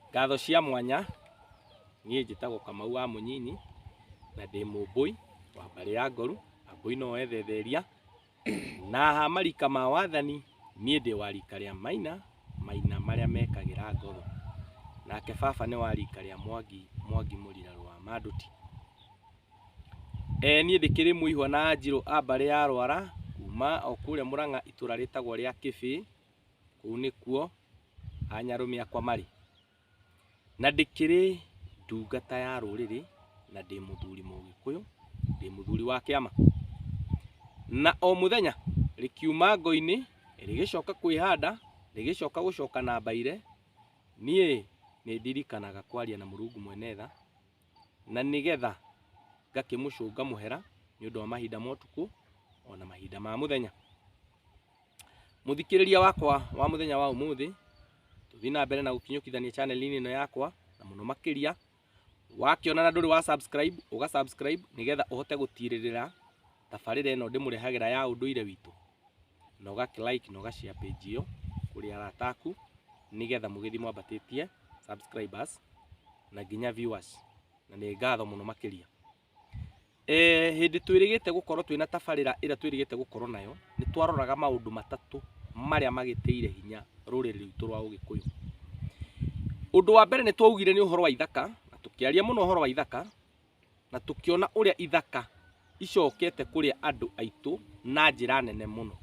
Ngatho cia mwanya, niĩ njĩtagwo Kamau wa Mũnyinyi na ndĩ mũmbũi wa mbarĩ ya Ngoru, Ambũi no ethetheria na ha marika ma wathani niĩ ndĩ wa rika rĩa Maina, Maina marĩa mekagĩra Ngoru. Nake baba nĩ wa rika rĩa Mwangi, Mwangi Mũrira rwa Manduti. Ee niĩ ndĩkĩrĩ Mũihwa na Anjirũ a mbarĩ ya Rwara kuma o kũrĩa Mũrang'a itũra rĩtagwo rĩa Kĩbĩi. kũu nĩkuo anyarũme akwa marĩ, na ndĩkĩrĩ ndungata ya rũrĩrĩ, na ndĩ mũthuri mũgĩkũyũ, ndĩ mũthuri wa kĩama. Na o mũthenya rĩkiuma ngo-inĩ rĩgĩcoka kwĩhanda, rĩgĩcoka gũcoka na mbaire, niĩ nĩ ndirikanaga kwaria na Mũrungu mwene tha, na nĩgetha ngakĩmũcũnga mũhera nĩ ũndũ wa mahinda ma ũtukũ, ona mahinda ma mũthenya. Mũthikĩrĩria wakwa wa mũthenya wa ũmũthĩ, tũthiĩ na mbere na gũkinyũkithania chaneli-inĩ ĩno yakwa na mũno makĩria wakĩona na ndũrĩ wa subscribe ũga subscribe nĩgetha ũhote gũtirĩrĩra tabarĩra ĩno ndĩmũrehagĩra ya ũndũire witũ na ũga like na ũga share page ĩyo kũrĩ arata aku nĩgetha mũgĩthiĩ mwambatĩtie subscribers na nginya viewers na nĩ ngatho mũno makĩria. Eh, hĩndĩ twĩrĩgĩte gũkorwo twĩna tabarĩra ĩrĩa twĩrĩgĩte gũkorwo nayo nĩ twaroraga maũndũ matatũ marĩa magĩtĩire hinya rũrĩrĩ rwitũ rwa ũgĩkũyũ ũndũ wa mbere nĩ twaugire nĩ ũhoro wa ithaka na tũkĩaria mũno ũhoro wa ithaka na tũkĩona ũrĩa ithaka icokete kũrĩa andũ aitũ na njĩra nene mũno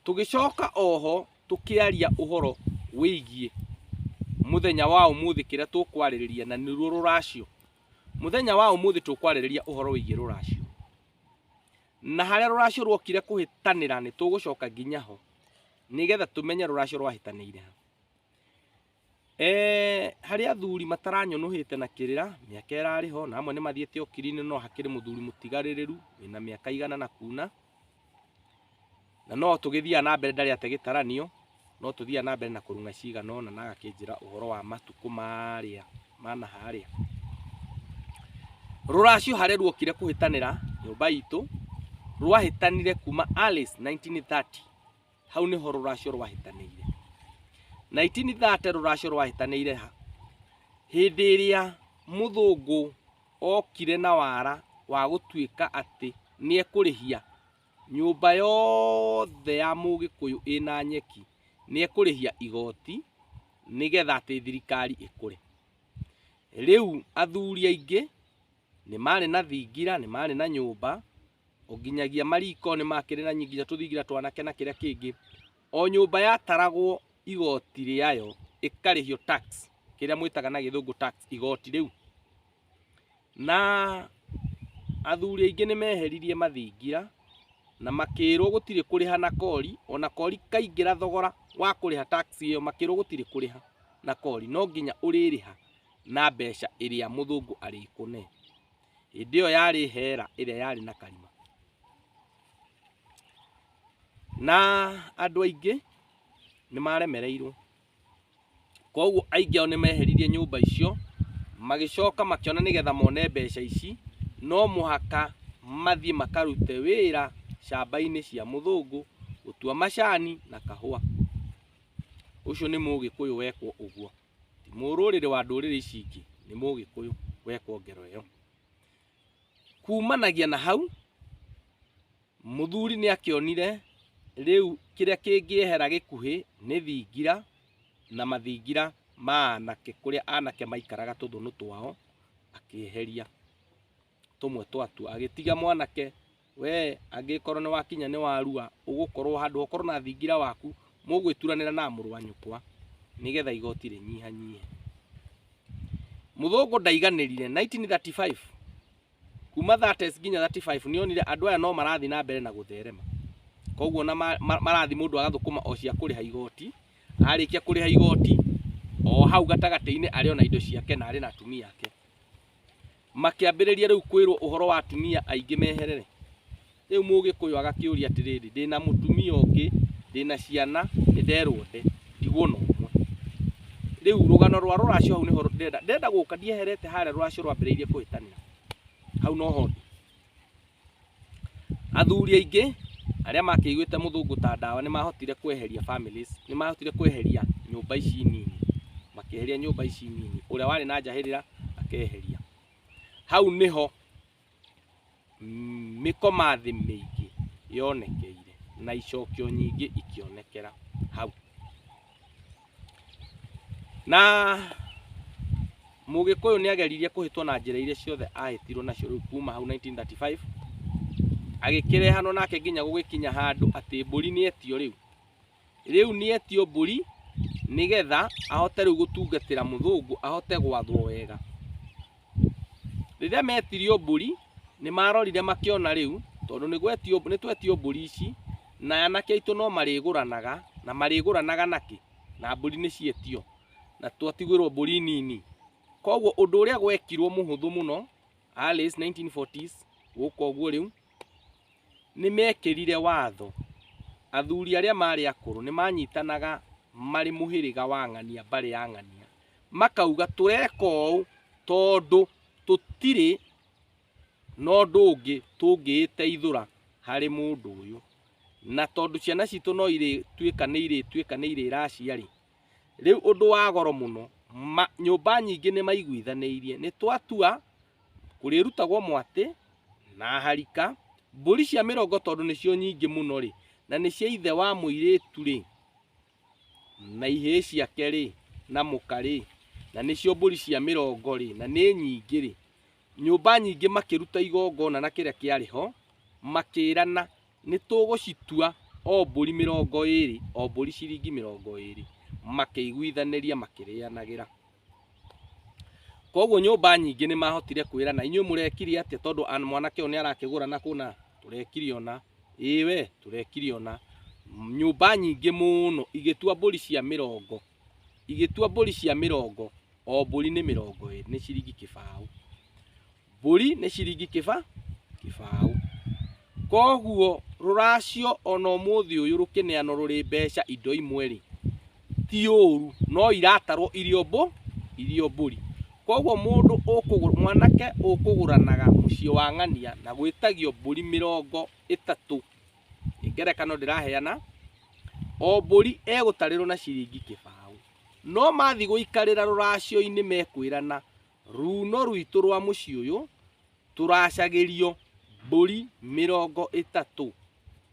tũgĩcoka oho tũkĩaria ũhoro wĩgiĩ mũthenya wa ũmũthĩ kĩrĩa tũkwarĩrĩria na nĩruo rũracio Mũthenya wa ũmũthĩ tũkwarĩrĩria ũhoro wĩgiĩ rũracio. Na harĩa rũracio rwokire kũhĩtanĩra nĩ tũgũcoka nginya ho nĩgetha tũmenye rũracio rwahĩtanĩire ha. Eh, harĩ athuri mataranyũnũhĩte na kĩrĩra mĩaka ĩrarĩ ho na amwe nĩ mathiĩte okiri-inĩ no hakĩrĩ mũthuri mũtigarĩrĩru wĩna mĩaka igana na kuna na no tũgĩthiaga na mbere ndarĩ ate gĩtaranio no tũthiaga na mbere na kũrung'a cigana ũna na agakĩnjĩra ũhoro wa matukũ marĩa ma na harĩa rũracio harĩa ruokire kũhĩtanĩra nyũmba itũ rwahĩtanire kuma Alice 1930 hau nĩho rũracio rwahĩtanĩire 1930 rũracio rwahĩtanĩire ha hĩndĩ ĩrĩa mũthũngũ okire na wara wa gũtuĩka atĩ nĩ ekũrĩhia nyũmba yothe ya mũgĩkũyũ ĩna nyeki nĩ ekũrĩhia igoti nĩgetha atĩ thirikari ĩkũre. Rĩu athuri aingĩ nĩ marĩ na thingira, nĩ marĩ na nyũmba, o nginyagia mariko nĩ makĩrĩ na nginya tũthingira twanake na kĩrĩa kĩngĩ, o nyũmba yataragwo igoti rĩayo ĩkarĩhio tax kĩrĩa mwĩtaga na gĩthũngũ tax igoti rĩu na athuri aingĩ nĩ meheririe mathingira na makĩrwo gũtirĩ kũrĩha na kori ona kori kaingĩra thogora wa kũrĩha tax ĩyo makĩrwo gũtirĩ kũrĩha na kori no nginya ũrĩrĩha na mbeca ĩrĩa mũthũngũ arĩkũne hĩndĩ ĩyo yarĩ hera ĩrĩa yarĩ na karima na andũ aingĩ nĩ maremereirwo koguo aingĩ ao nĩ meheririe nyũmba icio magĩcoka makĩona nĩgetha mone mbeca ici no mũhaka mathiĩ makarute wĩra shamba-inĩ cia mũthũngũ gũtua macani na kahũa. Ũcio nĩ mũgĩkũyũ wekwo ũguo, ti mũrũrĩrĩ wa ndũrĩrĩ ici ingĩ, nĩ mũgĩkũyũ wekwo ngero ĩyo. Kumanagia na hau Mũthuri nĩakĩonire rĩu kĩrĩa kĩngĩehera gĩkuhĩ nĩ thingira na mathingira ma anake kũrĩa anake maikaraga tũthũnũ twao akĩeheria tũmwe twatuo agĩtiga mwanake we angĩkorwo nĩwakinya nĩ warua ũgũkorwo handũ ha ũkorwo na thingira waku mũgwĩturanĩra na mũrũ wa nyũkwa nĩgetha igoti rĩnyihanyihe. Mũthũngũ ndaiganĩrire 1935 kuma 30 nginya 35 nĩ onire andũ aya no marathiĩ na mbere na gũtherema koguo na marathiĩ mũndũ agathũkũma o cia kũrĩha igoti arĩkia kũrĩha igoti o hau gatagatĩ-inĩ arĩ ona indo ciake na arĩ na atumia ake makĩambĩrĩria rĩu kwĩrwo ũhoro wa atumia aingĩ meherere Rĩu Mũgĩkũyũ agakĩũria atĩrĩrĩ, ndĩ na mũtumia ũngĩ, ndĩ na ciana, nĩ nderwo nde, ndigwo na ũmwe. Rĩu rũgano rwa rũracio hau nĩho ndĩrenda, ndĩrenda gũka, ndieherete harĩa rũracio rwambĩrĩirie kũhĩtanĩra. Hau noho ndĩ. Athuri aingĩ arĩa makĩiguĩte mũthũngũ ta ndawa nĩ mahotire kweheria families, nĩ mahotire kweheria nyũmba ici nini, makĩeheria nyũmba ici nini. Ũrĩa warĩ na njahĩrĩra akeheria. Hau nĩho mĩkomathĩ mĩingĩ yonekeire na icokio nyingĩ ikĩonekera hau na mũgĩkũyũ nĩ ageririe kũhĩtwo na njĩra iria ciothe ahĩtirwo nacio rĩu kuma hau 1935 agĩkĩrehanwo nake nginya gũgĩkinya handũ atĩ mbũri nĩ etio rĩu Rĩu nĩetio mbũri nĩgetha ahote rĩu gũtungatĩra mũthũngũ ahote gwathwo wega. Rĩrĩa metirio mbũri nĩ marorire makĩona rĩu tondũ nĩ twetio mbũri ici na anake aitũ no marĩgũranaga na marĩgũranaga na kĩ? Na mbũri nĩ cietio na twatigĩrwo mbũri nini. Koguo ũndũ ũrĩa gwekirwo mũhũthũ mũno Alice 1940s gũka ũguo rĩu. Nĩ meekĩrire watho. Athuri arĩa maarĩ akũrũ nĩ maanyitanaga marĩ mũhĩrĩga wa ng'ania, mbarĩ ya ng'ania, makauga, Tũreka ũũ tondũ tũtirĩ na ũndũ ũngĩ tũngĩĩteithũra harĩ mũndũ ũyũ. Na tondũ ciana citũ no irĩtuĩka nĩ irĩtuĩka nĩ irĩracia-rĩ, rĩu ũndũ wa goro mũno, nyũmba nyingĩ nĩ maiguithanĩirie, nĩ twatua kũrĩrutagwo mwatĩ na harika, mbũri cia mĩrongo tondũ nĩcio nyingĩ mũno-rĩ, na nĩ cia ithe wa mũirĩtu-rĩ, na ihĩĩ ciake-rĩ, na mũka-rĩ, na nĩcio mbũri cia mĩrongo-rĩ, na nĩ nyingĩ-rĩ, nyũmba nyingĩ makĩruta igongona na kĩrĩa kĩarĩ ho, makĩĩrana, nĩtũgũcitua o mbũri mĩrongo ĩĩrĩ, o mbũri ciringi mĩrongo ĩĩrĩ, makĩiguithanĩria makĩrĩanagĩra. Koguo nyũmba nyingĩ nĩ mahotire kwĩrana inyuĩ mũrekire atĩa tondũ an- mwanake ũyũ nĩ arakĩgũra na kũna tũrekire ũna ĩĩ we tũrekire ũna nyũmba nyingĩ mũno igĩtua mbũri cia mĩrongo igĩtua mbũri cia mĩrongo o mbũri nĩ mĩrongo ĩ- nĩ ciringi kĩbaũ Mbũri nĩ ciringi kĩba kĩbaũ. Koguo rũracio ona ũmũthĩ ũyũ rũkĩneano rũrĩ mbeca indo imwe rĩ, ti ũru, no iratarwo irio mbũ, irio mbũri. Koguo mũndũ ũkũgũra, mwanake ũkũgũranaga mũciĩ wa ng'ania na gwĩtagio mbũri mĩrongo ĩtatũ, nĩ ngerekano ndĩraheana, o mbũri egũtarĩrwo na ciringi kĩbaũ. No mathiĩ gũikarĩra rũracio-inĩ mekwĩrana, Ruuno rwitũ rwa mũciĩ ũyũ tũracagĩrio mbũri mĩrongo ĩtatũ,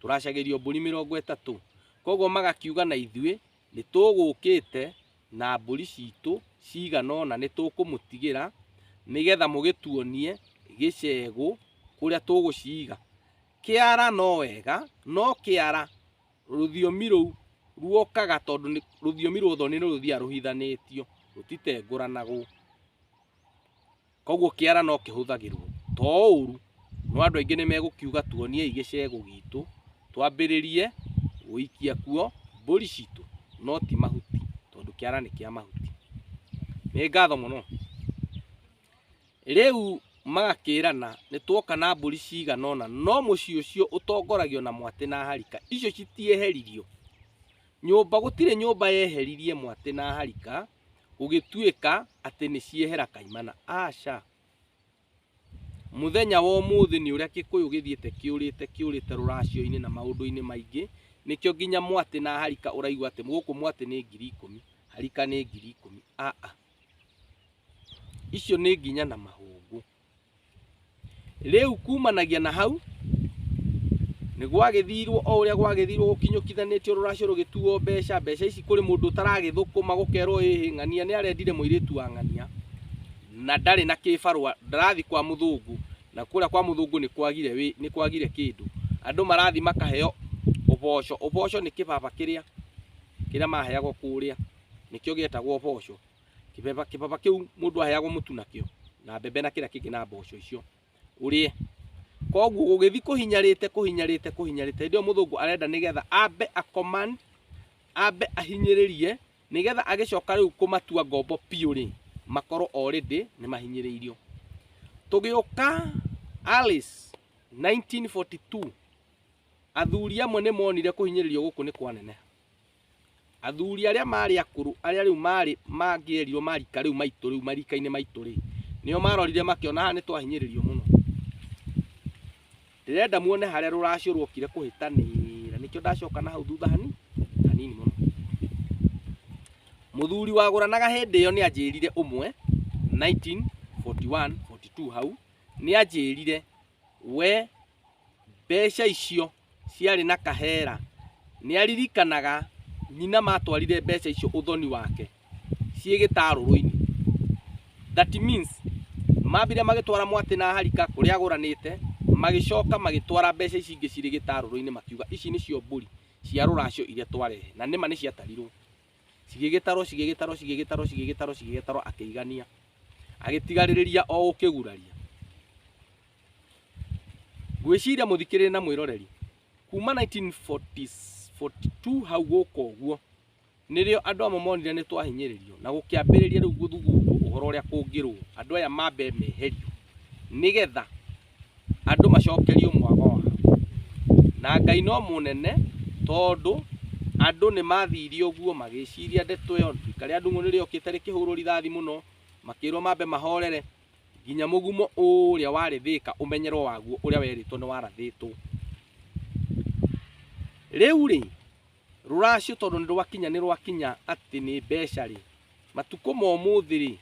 tũracagĩrio mbũri mĩrongo ĩtatũ. Koguo magakiuga na ithuĩ, nĩ tũgũkĩte na mbũri citũ cigana ũna nĩ tũkũmũtigĩra, nĩgetha mũgĩtuonie gĩcegũ kũrĩa tũgũciga. Kĩara no wega, no kĩara Rũthiomi rũu ruokaga tondũ nĩ rũthiomi rwa ũthoni nĩ rũthiaga rũhithanĩtio, rũtitengũranagwo. Koguo kĩara no kĩhũthagĩrwo. To ũru, no andũ aingĩ nĩ megũkiuga tuoniei gĩcegũ gitũ, twambĩrĩrie gũikia kuo mbũri citũ, no ti mahuti, tondũ kĩara nĩ kĩa mahuti. Nĩ ngatho mũno. Rĩu magakĩĩrana, Nĩtuoka na mbũri ciigana ũna, no mũciĩ ũcio ũtongoragio na mwatĩ na harika icio citieheririo. Nyũmba, gũtirĩ nyũmba yeheririe mwatĩ na harika gũgĩtuĩka atĩ nĩciehera kaimana. Aca! Mũthenya wa ũmũthĩ nĩ ũrĩa Gĩkũyũ gĩthiĩte kĩũrĩte kĩũrĩte rũracio-inĩ na maũndũ-inĩ maingĩ, nĩkĩo nginya mwatĩ na harika ũraigua atĩ gũkũ mwatĩ nĩ ngiri ikũmi, harika nĩ ngiri ikũmi. Aa! icio nĩ nginya na mahũngũ rĩu kumanagia na hau nĩ gwagĩthirwo o ũrĩa gwagĩthirwo gũkinyũkithanĩtio rũracio rũgĩtuo mbeca mbeca ici kũrĩ mũndũ ũtaragĩthũkũma gũkerwo ĩhĩ ng'ania nĩ arendire mũirĩtu wa ng'ania na ndarĩ na kĩbarũa ndarathiĩ kwa mũthũngũ na kũrĩa kwa mũthũngũ nĩ kwagire wĩ- nĩ kwagire kĩndũ andũ marathiĩ makaheo ũboco ũboco nĩ kĩbaba kĩrĩa kĩrĩa maheagwo kũrĩa nĩkĩo gĩetagwo ũboco. Kĩbaba, kĩbaba kĩu mũndũ aheagwo mũtu nakĩo na mbembe na kĩrĩa kĩngĩ na mboco icio ũrĩe. Koguo gũgĩthiĩ kũhinyarĩte kũhinyarĩte kũhinyarĩte, hĩndĩ ĩyo mũthũngũ arenda nĩgetha ambe a command, ambe ahinyĩrĩrie nĩgetha agĩcoka rĩu kũmatua ngombo biũ rĩ, makorwo already nĩ mahinyĩrĩirio. Tũgĩũka Alice 1942 athuri amwe nĩ monire kũhinyĩrĩrio gũkũ nĩ kwaneneha. Athuri arĩa maarĩ akũrũ, arĩa rĩu maarĩ mangĩerirwo marika rĩu maitũ rĩu marika-inĩ maitũ rĩ, nĩo marorire makĩona haha nĩ twahinyĩrĩrio mũno. Ndĩrenda muone harĩa rũracio rwokire kũhĩtanĩra, nĩkĩo ndacoka na hau thutha hanini hanini mũno. Mũthuri wagũranaga hĩndĩ ĩyo nĩ anjĩrire ũmwe 1941 42 hau, nĩ anjĩrire we mbeca icio ciarĩ na kahera. Nĩ aririkanaga nyina matwarire mbeca icio ũthoni wake ciĩ gĩtarũrũ-inĩ. That means mambire magĩtwara mwatĩ na harika kũrĩa agũranĩte, magĩcoka magĩtwara mbeca ici ingĩ cirĩ gĩtarũrũ-inĩ makiuga ici nĩcio mbũri cia rũracio iria twarehe, na nĩma nĩciatarirwo. Cigĩgĩtarwo cigĩgĩtarwo cigĩgĩtarwo cigĩgĩtarwo cigĩgĩtarwo akĩigania, agĩtigarĩrĩria o gũkĩguraria. ngwĩciria mũthikĩrĩri na mwĩroreri kuma 1942 hau gũka ũguo nĩrĩo andũ amwe monire nĩ twahinyĩrĩrio na gũkĩambĩrĩria rĩu gũthugundwo ũhoro ũrĩa kũngĩrwo andũ aya mambe meherio nĩgetha andũ macokerio mwago wao na ngai no mũnene tondũ andũ nĩ mathire ũguo magĩciria ndeto ĩyo rika rĩa ndung'ũ nĩrĩokĩte rĩkĩhũrwo rithathi mũno makĩrwo mambe mahorere Nginya mũgumo ũrĩa warĩ thĩka ũmenyerwo waguo ũrĩa werĩtwo nĩ warathĩtwo. Rĩu-rĩ, rũracio tondũ nĩ rwakinya nĩ rwakinya atĩ nĩ mbeca-rĩ, matukũ ma ũmũthĩ-rĩ,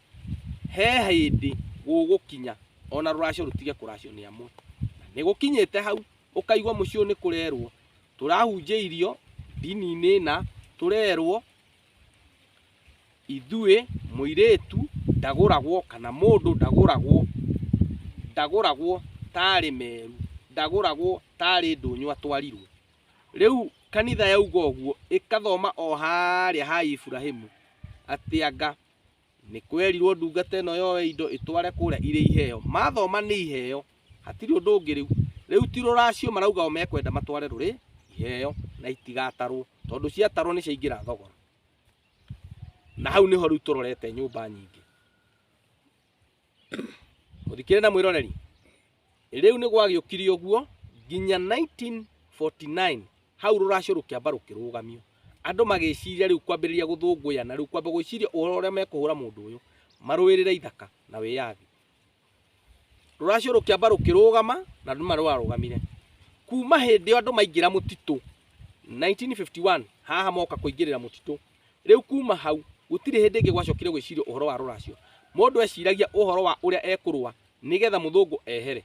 he hĩndĩ gũgũkinya ona rũracio rũtige kũracio nĩ amwe. Nĩ gũkinyĩte hau, ũkaigua mũciĩ ũyũ nĩ kũrerwo, tũrahunjĩirio ndini-inĩ ĩna, tũrerwo Ithuĩ mũirĩtu ndagũragwo kana mũndũ ndagũragwo, ndagũragwo ta arĩ meru, ndagũragwo ta arĩ ndũnyũ atwarirwo. Rĩu kanitha yauga ũguo ĩkathoma o harĩa ha Iburahĩmu atĩ anga nĩ kwerirwo ndungata ĩno yoe indo ĩtware kũrĩa irĩ iheo mathoma nĩ iheo hatirĩ ũndũ ũngĩ rĩu rĩu ti rũracio marauga o mekwenda matware rũrĩ iheo na itigatarwo tondũ ciatarwo nĩ ciaingĩra thogora na hau nĩho rĩu tũrorete nyũmba nyingĩ Mũthikĩre na mwĩroreri. Rĩu nĩ gwagĩũkire ũguo nginya 1949 hau rũracio rũkĩamba rũkĩrũgamio. Andũ magĩciria rĩu kwambĩrĩria gũthũngũyana, rĩu kwamba gwĩciria ũhoro ũrĩa mekũhũra mũndũ ũyũ, marũĩrĩre ithaka na wĩyathi. Rũracio rũkĩamba rũkĩrũgama na nĩma rwarũgamire. Kuma hĩndĩ ĩyo andũ maingĩra mũtitũ 1951 haha moka kũingĩrĩra mũtitũ Rĩu kuuma hau, gũtirĩ hĩndĩ ĩngĩ gwacokire gwĩcirio ũhoro wa rũracio. Mũndũ eciragia ũhoro wa ũrĩa ekũrũa nĩ getha mũthũngũ ehere.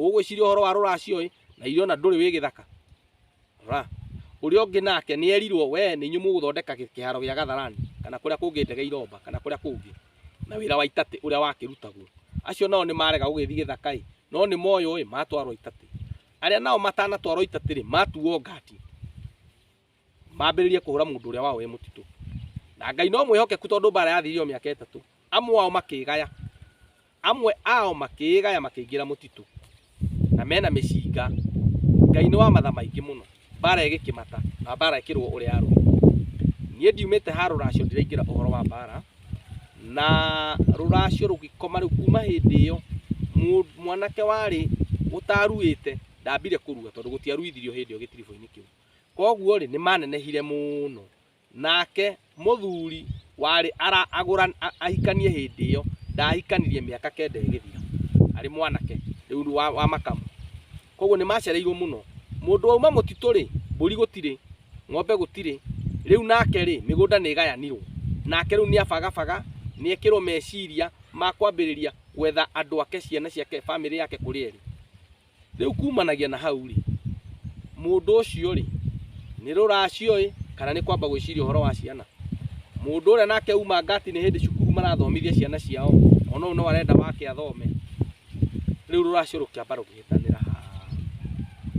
Ũgwĩciria ũhoro wa rũracio-ĩ, na irĩ ona ndũrĩ wĩ gĩthaka? Ra. Ũrĩa ũngĩ nake nĩ erirwo, Wee nĩ inyuĩ mũgũthondeka kĩharo gĩa Gatharani, kana kũrĩa kũngĩ ndege iromba, kana kũrĩa kũngĩ, na wĩra wa Itatĩ ũrĩa wakĩrutagwo. Acio nao nĩ marega gũgĩthiĩ gĩthaka-ĩ, no nĩ moywo-ĩ, matwarwo Itatĩ. Arĩa nao matanatwarwo Itatĩ-rĩ, matuuo ngati. mambĩrĩrie kũhũra mũndũ ũrĩa wao wĩ mũtitũ na ngai no mwĩhokeku tondũ mbara yathirio mĩaka ĩtatũ amwe ao makĩgaya amwe ao makĩgaya makĩingĩra mũtitũ na mena mĩcinga ngai nĩ wa matha maingĩ mũno mbara ĩgĩkĩmata na mbara ĩkĩrwo ũrĩa yarwo niĩ ndiumĩte ha rũracio ndiraingĩra ũhoro wa mbara na rũracio rũgĩkoma rĩu kuma hĩndĩ ĩyo mũ- mwanake warĩ ũtaruĩte ndambire kũrua tondũ gũtiaruithirio hĩndĩ ĩyo gĩtiribo-inĩ kĩu Koguo-rĩ, nĩmanenehire mũno. Nake mũthuri warĩ araagũra ahikanie hĩndĩ ĩyo, ndaahikanirie mĩaka kenda ĩgĩthira, arĩ mwanake rĩu wa, wa makamu. Koguo nĩmacereirwo mũno. Mũndũ wauma mũtitũ-rĩ, mbũri gũtirĩ, ng'ombe gũtirĩ. Rĩu nake-rĩ, mĩgũnda nĩĩgayanirwo. Nake rĩu nĩabagabaga, nĩekĩrwo meciria ma kwambĩrĩria gwetha andũ ake, ciana ciake, bamĩrĩ yake kũrĩa ĩrĩ. rĩu kumanagia na hau rĩ mũndũ ũcio rĩ nĩ rũracio ĩ kana nĩ kwamba gwĩciria ũhoro wa ciana mũndũ ũrĩa nake uma ngati nĩ hĩndĩ cukuru marathomithia ciana ciao ona ũyũ no arenda wake athome rĩu rũracio rũkĩamba rũkĩhĩtanĩra ha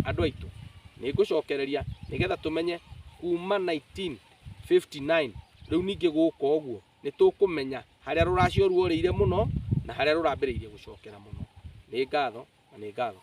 andũ aitũ nĩ ngũcokereria nĩgetha tũmenye kuma 1959 rĩu ningĩ gũka ũguo nĩ tũkũmenya harĩa rũracio ruorĩire mũno na harĩa rũrambĩrĩirie gũcokera mũno. Nĩ ngatho na nĩ ngatho.